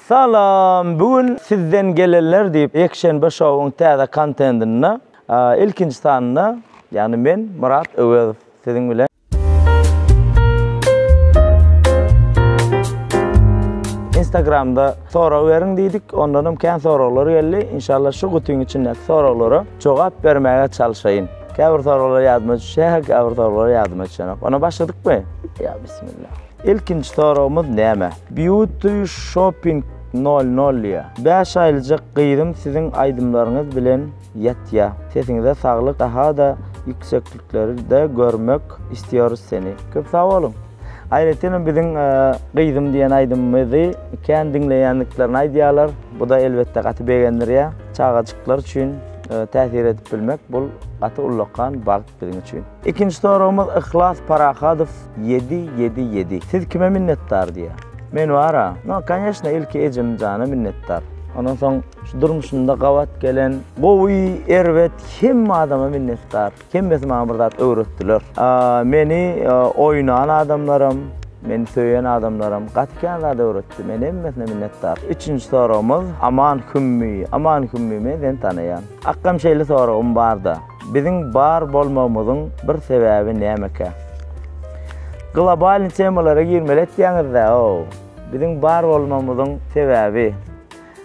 Salam! Bu gün sizden gelenler diýip Ýekşenbe şowuň täze kontendinde ilkinji sanynda ýagny men Myrat Öwezow siziň bilen. Instagramda sorag beriň diýdik, ondanam kän soraglar geldi. Inşallah şu gutyň içindäki soraglara jogap bermäge çalşaýyn. Käbir soraglar ýadyma düşýär, käbir soraglar ýadyma düşenok. Onda başladykmy? Ýa bismillah. Ilkinji soragymyz näme? Beauty Shopping nol nol ya. Bäş aýlyjak gyzym siziň aýdymlaryňyz bilen ýatýa. Sesiňize saglyk dahada ýüksekliklerde görmek istiyoruz seni. Köp sag boluň. Aýratyn hem biziň Gyzym diýen aýdymymyzy kän diňleýändiklerini aýdýarlar. Bu-da elbetde gaty begendirýär. Çagajyklar üçin täsir edip bilmek bul gaty ullakan bagt. Biziň üçin. Ikinji soragymyz Yhlas Parahadow ýedi ýedi ýedi. Siz kime minnetdar diýýär. Men bara, no koneşno ilki ejemjana minnetdar. Ondan soň şu durmuşymda gabat gelen gowy, erbet hemme adama minnetdar. Hemmesi maňa bir zat öwretdiler. Meni oýnan adamlaram, meni söýen adamlaram gaty kän zat öwretdi. Men hemmesine minnetdar. Üçünji soragymyz Aman Hümmi. Aman Hümmi men seni tanaýan. Akgam şeýle soragym barda. Biziň bar bolmagymyzyň bir sebäbi nämekä? Globalny temalara girmeli etýäňizdä-ow! Biziň bar bolmagymyzyň sebäbi,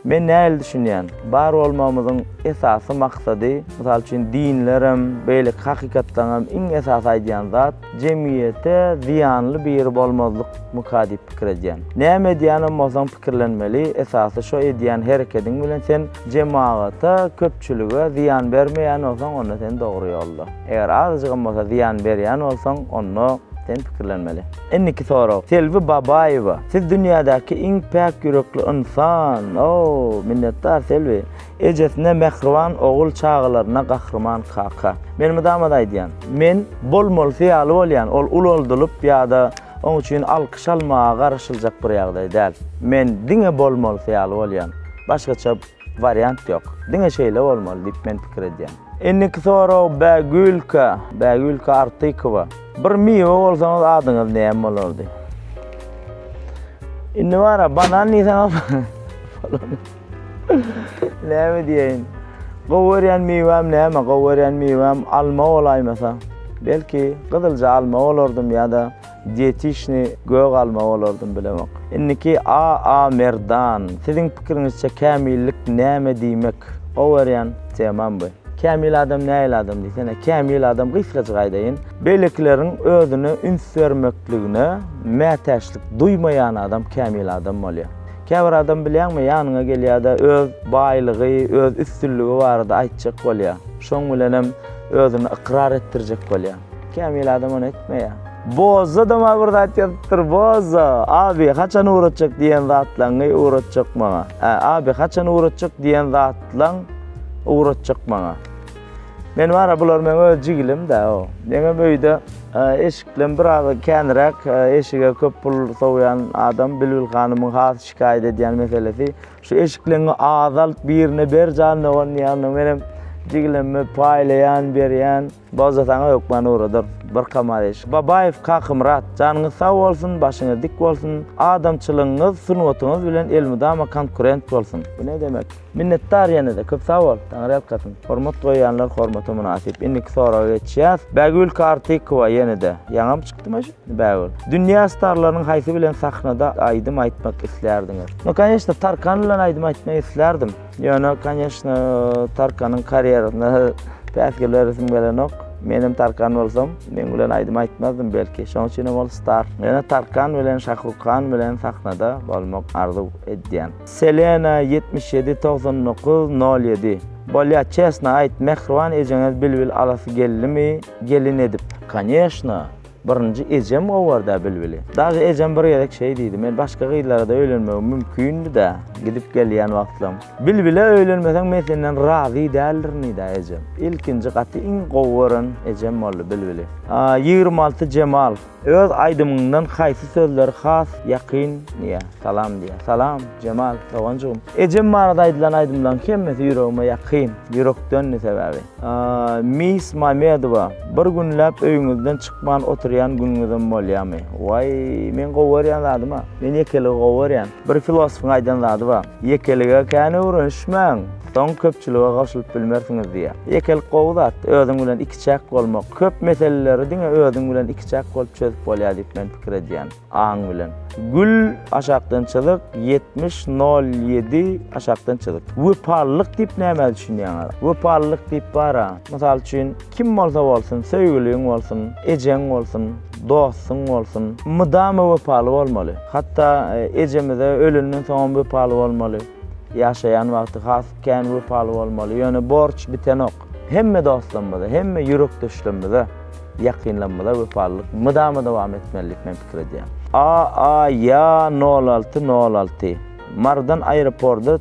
men nähili düşünýän, bar bolmagymyzyň esasy maksady, mysal üçin dinlerem, beýleki hakykatlaryňam iň esasy aýdýan zat, Jemgyýete zyýanly biri bolmazlyk myka diýip pikir edýän. Näme edýänem bolsaň pikirlenmeli, esasy şo edýän herekediň bilen sen jemagata, köpçülige zyýan bermeýän bolsaň onda sen dogry ýolda. Eger azajygam bolsa zyýan berýän bolsaň onda sen pikirlenmeli. Indiki sorag Selbi Babaýewa siz dünýädäki iň päk ýürekli ynsan, oo minnetdar Selbi. Ejesine mähriban ogul çagalaryna gahryman kaka. Men mydama-da aýdýan. Men bolmalysy ýaly bolýan, ol ulaldylyp ýa-da oň üçin alkyş almaga garaşyljak bir ýagdaý däl. Men diňe bolmalysy ýaly bolýan. Başgaça wariant ýok. Diňe şeýle bolmaly diýip men pikir edýän. Indiki sorag Bägülkä, Bägülkä Artykowa. Bir miwe bolsaňyz adyňyz näme bolardy? Indi bara banan diýseňiz bolany. Näme diýeýin? Gowy görýän miwäm näme? Gowy görýän miwäm alma bolaýmasa, belki gyzylja alma bolardym ýa-da dietişni gök alma bolardym bilemok. Indiki A. A. Merdan, siziň pikiriňizçe kämillik näme diýmek? Gowy görýän temam bu. Kämil adam nähili adam diýsene? Kämil adam gysgajyk aýdaýyn, beýlekileriň özüne üns bermekligine mätäçlik duýmaýan adam kämil adam bolýar. Käbir adam bilýäňmi, ýanyňa gelýär-de, öz baýlygy, öz üstünligi barada aýtjak bolýar. Şoň bilenem özüni ykrar etdirjek bolýar. Kämil adam ony etmeýär. Bozza-da maňa bir zat ýazypdyr, Bozza, Abi, haçan ugratjak diýen zatlaňňy ugratjak maňa. Ä, Abi, haçan ugratjak diýen zatlaň ugratjak maňa. Men bara bular meň öz jigilim da o. Meňem öýde eşiklem biraz känräk eşige köp pul sowýan adam Bilbil hanymyň has şikaýat edýän meselesi şu eşikleňi azalt birine ber jan dogan diýýän menem jigilemme paýlaýan berýän. Bolsa saňa hökman ugradyr bir kamaz eşik. Babaýew Kakymyrat janyňyz sag bolsun başyňyz dik bolsun adamçylygyňyz sungatyňyz bilen elmydama konkurent bolsun. Bu ne demek. Minnetdar ýene-de köp sag bol. Taňryýalkasyn. Hormat goýýanlar hormata mynasyp. Indiki soraga geçýäs. Bägül Kartykowa ýene-de. Ýaňam çykdyma şu Bägül. Dünýä starlarynyň haýsy bilen sahnada aýdym aýtmak islärdiňiz? No kanyeshna Tarkan bilen aýdym aýtmak islärdim. Ýöne kanyeshna Tarkanyň karýerasyna päsgelmä resim gelenok. Menem Tarkan bolsam, meň bilen aýdym aýtmazdym belki. Şoň üçinem ol star. Ýöne Tarkan bilen Şahrukhan bilen sahnada bolmak arzuw edýän. Selena ýetmiş ýedi togsan dokuz nol ýedi. Bolýa çesna aýt mähriban ejeňiz bilbil alasy geldimi gelin edip. Koneşna birinji ejem owarda bilbili. Daže ejem bir gezek şeý diýdi men başga gyzlarada öýlenmegim mümkindida gidip gelýän wagtlam. Bilbile öýlenmeseň men senden razy däldirnida ejem. Ilkinji gaty iň gowy gören ejem boldy bilbili. Ýigrimi alty jemal. Öz aýdymyňdan haýsy sözleri has ýakyn diýýä? Salam diýýä. Salam, Jemal doganjygym. Ejem barada aýdylan aýdymlaryň hemmesi ýüregime ýakyn, ýürekdendi sebäbi. Miss Mamedowa, bir günläp öýüňizden çykman oturýan günüňizem bolýamy? Waý, meň gowy görýän zadym-a. Men ýekeligi gowy görýän. Bir filosofyň aýdan zady bar, Ýekelige kän öwrenişmäň, soň köpçülige goşulyp bilmersiňiz diýýä. Ýekelik gowy zat, özüň bilen iki. Ikiçäk bolmak, köp meseleleri diňe özüň bilen ikiçäk bolup çözüp bolýar diýip men pikir edýän, aň bilen. Gül, aşakdan çyzyk, ýetmiş, nol, ýedi, aşakdan çyzyk. Wepalylyk diýip nämä düşünýäňiz? Wepalylyk diýip bar-a. Mysal üçin, kim bolsa bolsun, söýgüliň bolsun, ejeň bolsun, dostuň bolsun, mydama wepaly bolmaly. Hatda ejemize ölenden soňam wepaly bolmaly. Ýaşaýan wagty has kän wepaly bolmaly. Ýöne borç bitenok. Hemme dostlarymyza, hemme ýürekdeşlerimize, ýakynlarymyza wepalylyk mydama dowam etmeli diýip men pikir edýän. AAYA nol alty nol alty Marydan aeroporda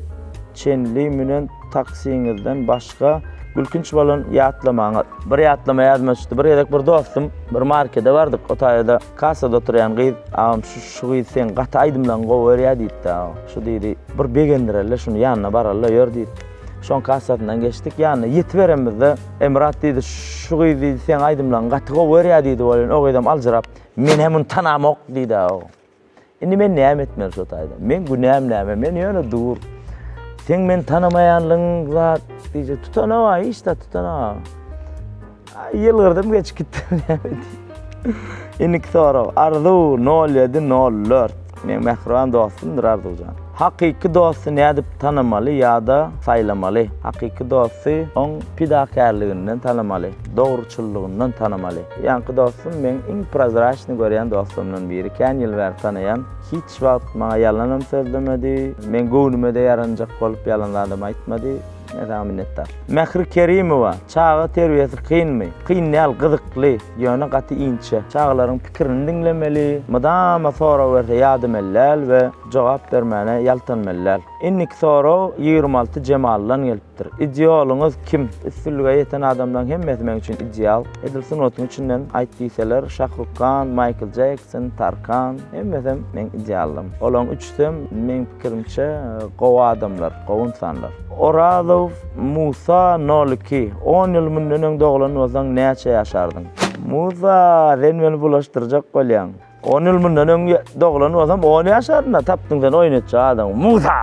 çenli münen taksiňizden başga gülkünç bolan ýatlamaňyz? Bir ýatlama ýadyma düşdi. Bir gezek bir dostum, bir markede bardyk. Otaýada kassada oturýan gyz, Agam şu şu gyz seň gaty aýdymlaň gowy berýä diýipdi agam. Şu diýdi, bir begendireli şuny ýanyna baralyda ýör diýip. Şoň kassasyndan geçdik. Ýanyna ýetiberemizde Emrat diýdi, şu gyz diýdi, seň aýdymlaryňy gaty gowy görýär diýdi welin, o gyzam aljyrap, men hem muny tanamok diýdi o. Indi men näme etmeli şu taýda? Men günäm näme? Men ýöne dur. Sen men tanamaýanlygyň zat diýje tutana bar, hiç zat tutana. Ýylgyrdym geçip gitdim. Indiki sorag. Arzuw 0704. Meň mähriban dostumdyr Arzuwjan. Hakyky dosty nädip tanamaly ýa-da saýlamaly? Hakyky dosty oň pidakärliginden tanamaly, dogruçyllygyndan tanamaly. Ýaňky dostum meň iň prozraçnyý görýän dostlarymdan biri. Kän ýyl bäri tanaýan. Hiç wagt maňa ýalanam sözlemedi. Meň göwnüme-de ýaranjak bolup ýalan zadam aýtmady. Saňa minnetdar. Mähri Kerimowa, Çaga terbiýesi kynmy? Kyn däl, gyzykly, ýöne gaty inçe. Çagalaryň pikirini diňlemeli, mydama sorag berse ýadamäli däl we jogap bermäne ýaltanmaly däl. Indiki sorag ýigrimi alty Jemaldan gelipdir. Idealyňyz kim? Üstünlige ýeten adamlaryň hemmesi meň üçin ideal. Edil sungatyň içinden aýt diýseler, Şahruk Kan, Maýkl Jekson, Tarkan, hemmesem meň idealym. Olaryň üçüsem, meň pikirimçe, gowy adamlar. Gowun sanlar. Orazow Musa nol iki. On ýyl mundan öň doglan bolsaň näçe ýaşardyň? Musa, sen meni bulaşdyrjak bolýaň. On ýyl mundan öň doglan bolsam on ýaşardym-da, tapdyň sen oýun etjek adamy. Musa!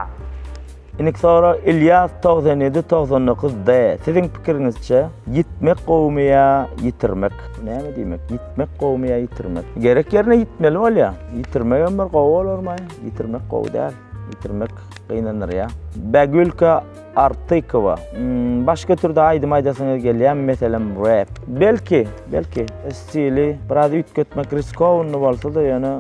Indiki sorag Ilýas togsan ýedi togsan dokuz D. Siziň pikiriňizçe, ýitmek gowumy ýa ýitirmek? Bu näme diýmek? Ýitmek gowumy ýa ýitirmek? Gerek ýerine ýitmeli bolýar. Ýitirmegem bir gowy bolarmy? Ýitirmek gowy däl. Bitirmek gynandyrýar. Bagülka Artykowa, Başga türde aýdym aýdasyňyz gelýärmi, meselem, rap? Belki, belki. Stili biraz üýtgetmek riskowny bolsa-da, ýöne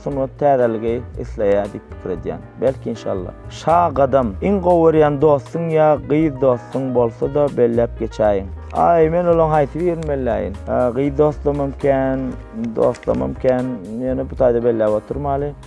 sungat täzeligi isleýär diýip pikir edýän. Belki, inşallah. Şa Gadam, Iň gowy görýän dostuň ýa gyz dostuň bolsa-da belläp geçäýiň. Aý, men olaň haýsy birini belläýin? Gyz dostlamam kän, dostlamam kän, ýöne bu taýda belläp oturmaly.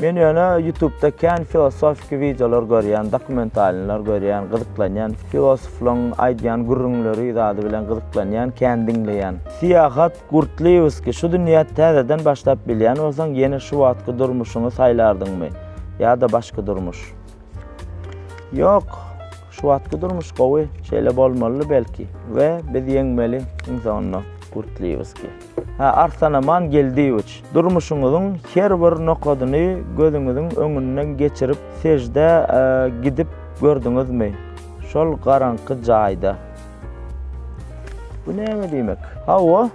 Men ýöne ýutubda kän filosofiki wideolar görýän, dokumentalnylar görýän, gyzyklanýan, filosoflaň aýdýan gürrüňleri zady bilen gyzyklanýan, kän diňleýän. Syýahat Gurtliwskiý, Şu dünýä täzeden başlap bilýän bolsaň, ýene şu wagtky durmuşyňy saýlardyňmy? Ýa-da başga durmuş? Ýok, şu wagtky durmuş gowy, şeýle bolmalydy belki we biz ýeňmeli Insonda Gurtliýewskiý. Hä, Arsanaman Geldiýewiç, durmuşyňyzyň her bir nokadyny gözüňiziň öňünden geçirip seždä gidip gördüňizmi şol garaňky jaýda? Bu näme diýmek? Hawa.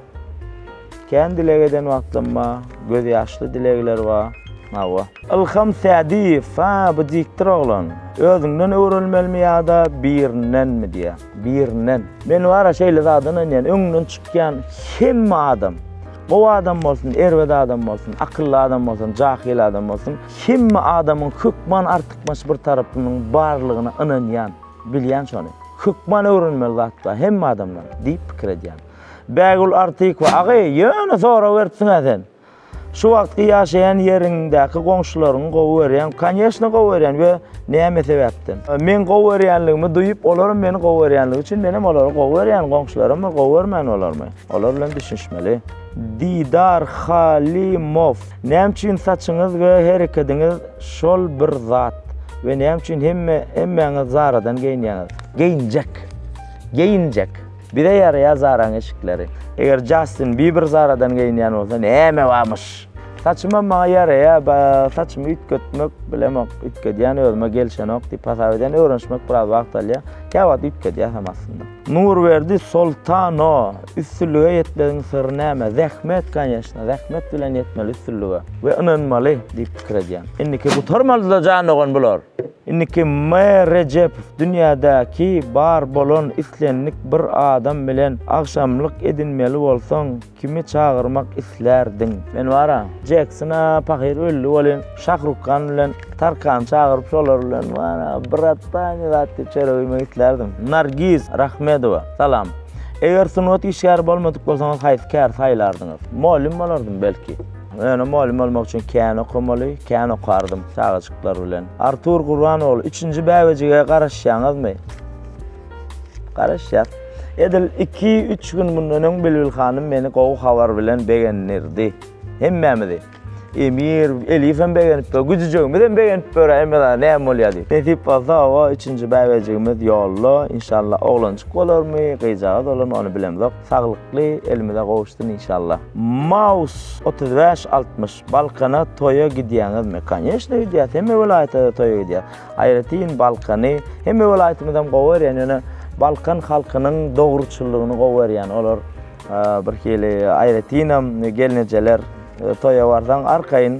Kän dileg eden wagtlam bar, göz ýaşly dilegler bar. Hawa. Ylham Sädiýew, ha bu diktir oglan. Özüňden öwrelmelimi ýa-da birindenmi diýýä. Birinden. Men bara şeýle zada ynanýan, öňüňden çykýan hemme adam, gowy adam bolsun, erbet adam bolsun, akylly adam bolsun, jahyl adam bolsun, hemme adamyň hökman artykmaç bir tarapynyň barlygyna ynanýan, bilýän şony. Hökman öwrenmeli zat bar hemme adamdan diýip pikir edýän. Bägül Artykowa, Agy, ýöne sorag beripsiň-ä sen. Şu wagtky ýaşaýan ýeriňdäki goňşularyňy gowy görýäňmi? Konýeşne gowy görýän we näme sebäpden? Meň gowy görýänligimi duýup, olaram meni gowy görýänligi üçin menem olary gowy görýän, goňşularammy, gowy görmän bolarmy? Olar bilen düşünişmeli. Didar Halymow, Näme üçin saçyňyz we herekediňiz şol bir zat we näme üçin hemme hemmäňiz Zara-dan geýinýäňiz? Geýinjek. Geýinjek. Bize ýaraýar Zaraň eşikleri. Eger Jastin Biber Zaradan geýinýän bolsa näme bamyş. Saçymam maňa ýaraýar ba saçymy üýtgetmek bilemok üýtgedýän özüme gelşenok diýip hasap edýän öwrenişmek biraz wagt alýar kä wagt üýtgedýäsem aslynda. Nurberdi Soltano üstünlige ýetmegiň syry näme zähmet kanýeşna zähmet bilen ýetmeli üstünlige we ynanmaly diýip pikir edýän. Indiki gutarmalyda jan dogan bular. Indiki M. Rejepow dünýädäki bar bolan islendik bir adam bilen agşamlyk edinmeli bolsaň kimi çagyrmak islärdiň? Men bara Jeksona pahyr öldi welin Şahrukhan bilen Tarkany çagyryp şolar bilen bara bratany zat diýip çörek iýmek islärdim. Nargiz Rahmedowa salam. Eger sungat işgäri bolmadyk bolsaňyz haýsy käri saýlardyňyz? Mugallym bolardym belki. Ýöne mugallym bolmak üçin kän okamaly, kän okardym çagajyklar bilen. Artur Gurban ogly, üçünji bäbejige garaşýaňyzmy? Garaşýas. Edil iki, üç gün mundan öň Bilbil hanym meni gowy habar bilen begendirdi. Hemmämizi. Emir, Elifem begenip dur, güjüjegimizem begenip dur, emma-da näme bolýar diýip. Nesip bolsa, hawa, üçünji bäbejigimiz ýolda, inşallah oglanjyk bolarmy, gyzjagaz bolarmy, ony bilemzok. Saglykly elimize gowuşsyn inşallah. Maus otuz bäş altmyş Balkana toýa gidýäňizmi? Koneşno gidýäs, hemme welaýata-da toýa gidýäs. Aýratyn Balkany, hemme welaýatymyzam gowy görýän, ýöne Balkan halkynyň dogruçyllygyny gowy görýän. Olar birhili aýratynam gelnejeler toýa barsaň arkaýyn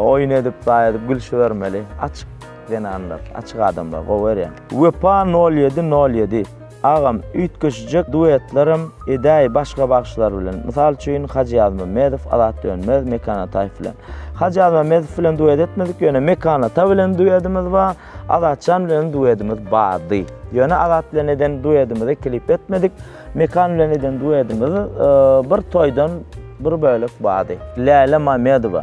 oýun edip, zaý edip gülşübermeli. Açyk zenanlar, açyk adamlar gowy görýän. Wepa nol ýedi nol ýedi. Agam üýtgeşije duetlerem edäý başga bagşylar bilen mysal üçin Hajy Ýazmamedow Azat Dönmez Mekan Ataýew bilen. Hajy Ýazmamedow bilen duet etmedik ýöne Mekan Ata bilen duedimiz bar Azatjan bilen duedimiz bardy. Ýöne Azat bilen eden duedimizi klip etmedik Mekan bilen eden duedimiz bir toýdan bir bölek bardy. Läle Mamedowa.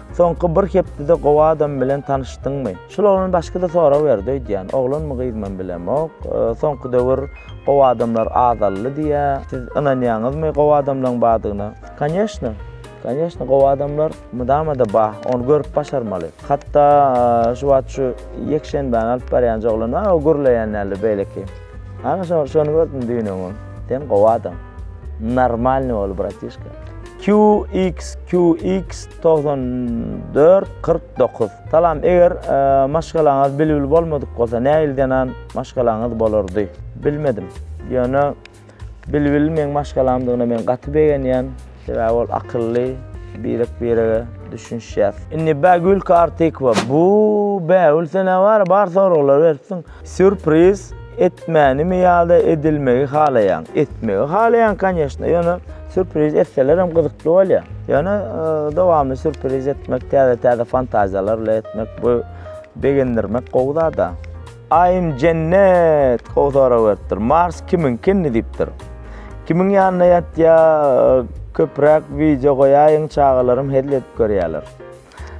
Soňky bir hepdede gowy adam bilen tanyşdyňmy? Şul oglan başga-da sorag berdi öýdýän. Oglanmy gyzmam bilemok. Soňky döwür gowy adamlar azaldy diýýär. Siz ynanýaňyzmy gowy adamlaň bardygyna? Konýeşne. Konýeşne gowy adamlar mydama-da bar. Ony görüp başarmaly. Hatda şu wagt şu ýekşenbäni alyp barýan joglan bar, o gürleýän däldir beýleki. Ana şony şony gördüm düýn öňňin sen gowy adam. Normalny bol bratişka. QXQX 9449 Salam eger e, maşgalaňyz bilbil bolmadyk bolsa näil zenan maşgalaňyz bolardy bilmedim ýöne bilbil meň maşgalamdygyna men gaty begenýän sebäbi ol akylly birek birege düşünişýär indi bä gülki artikwa bu bä ülse ne bar bar soraglar beripsiň Sýurpriz etmänimi ýa-da edilmegi halaýaň? Etmegi halaýaň kanýeşna, ýöne sýurpriz etselerem gyzykly bolýar. Ýöne e, dowamly sýurpriz etmek, täze-täze fantaziýalar bilen etmek, bu begendirmek gowy zada. Aýym Jennet gowy sorag beripdir. Mars kimiň kinni diýipdir. Kimiň ýanynda ýatýa, köpräk wideo goýaýyň, çagalarym hezil edip görýärler.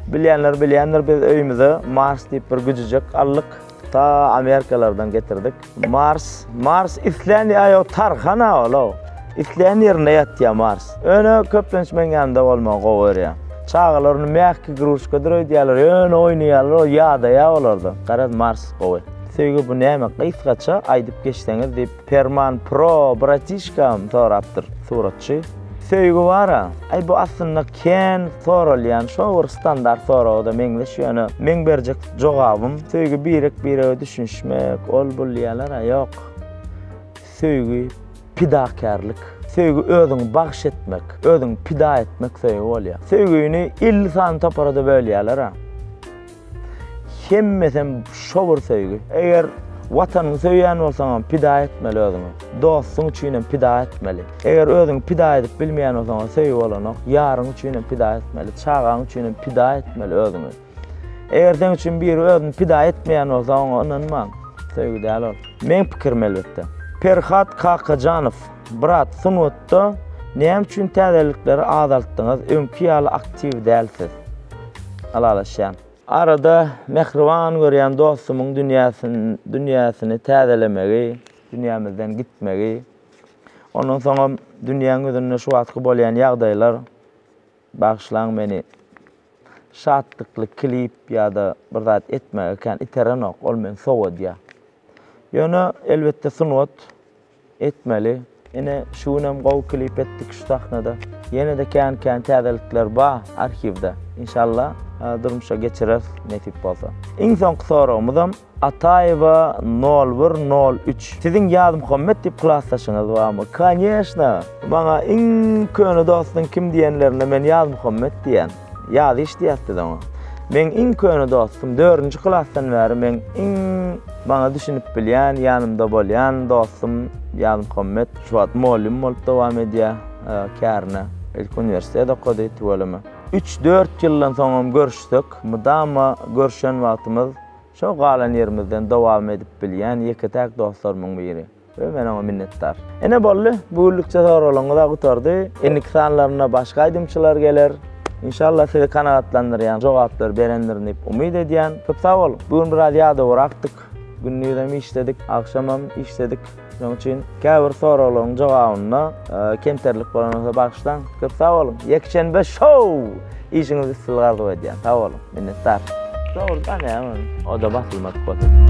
Bilýänler bilýändir, biz öýümize Mars diýip bir güjüjek aldyk. Ta Amerikalardan getirdik. Mars, Mars islän ýaýo tarhana ola. Islän ýerinde ýatýa Mars. Öne köplenç men ýanynda bolmagy gowy görýä. Çagalar ony mähki gruçka döredýärler, öne oýnaýarlar, o ýadaýa olarda. Garaz Mars gowy. Söýgi bu näme? Gysgaça aýdyp geçseňiz diýip Perman Pro bratişkam sorapdyr suratçy. Söýgi bara, aý bu aslynda kän soralýan şo bir standart soraga-da meňzeş ýöne meň berjek jogabym söýgi birek birege düşünişmek ol bul diýýäler-ä ýok. Söýgi pidakärlik. Söýgi özüňi bagş etmek, özüňi pida etmek söýgi bolýar. Söýgini elli sany topara-da bölýäler-ä. Hemmesem şo bir söýgi. Eger Watanyňy söýýän bolsaňam pida etmeli özüňi. Dostuň üçinem pida etmeli. Eger özüňi pida edip bilmeýän bolsaňam söýgi bolanok. Ýaryň üçinem pida etmeli. Çagaň üçinem pida etmeli özüňi. Eger seň üçin biri özüni pida etmeýän bolsa oňa ynanmaň. Söýgi däl ol. Meň pikirim elbetde. Perhat Kakajanow. Brat sungatda näme üçin täzelikleri azaltdyňyz öňki ýaly aktiw dälsiz. Ylalaşýan. Arada mähriban görýän dostumyň dünýäsin dünýäsini täzelemegi dünýämizden gitmegi ondan soňam dünýäň ýüzünde şu wagtky bolýan ýagdaýlar bagyşlaň meni şatlykly klip ýa-da bir zat etmäge kän iterenok ol meni sowadýa ýöne elbetde sungat Etmeli. Ine şu günem gowy klip etdik şu sahnada. Ýenede kän kän täzelikler ba arhiwde. Inşallah durmuşa geçireris nesip bolsa. Iň soňky soragymyzam Ataýewa nol bir nol üç. Siziň Ýazmuhammet diýip klasdaşyňyz barmy? Kanyýeşna! Maňa iň köne dostuň kim diýenlerinde men Ýazmuhammet diýen. Ýazyş diýýäs biz oňa. Meň iň köne dostum, dördünji klasdan bäri meň iň maňa düşünip bilýän, ýanymda bolýan dostum Ýazmuhammet. Şu wagt mugallym bolup dowam edýär kärine. Ilki uniwersitet okady, tüweleme. Üç-dört ýyldan soňam görüşsek, mydama görşen wagtymyz şo galan ýerimizden dowam edip bilýän ýeke-täk dostlarymyň biri. We men oňa minnetdar. Ine boldy, bu günlükçe soraglaryňyza gutardy. Indiki sanlarynda başga aýdymçylar geler. Inşallah sizi kanagatlandyrýan jogaplary berendirin diýip umyt edýän. Köp sag boluň. Bu gün biraz ýadawara akdyk. Gündizem işledik, agşamam işledik. Şonuň üçin käbir soraglaryň jogabynda kemterlik bolan bolsa bagyşlaň. Köp sag boluň. Ýekşenbe show! Işiňizde üstünlik arzuw edýän. Sag boluň. Minnetdar. Dogrudan hem oda basylmadyk bolsun.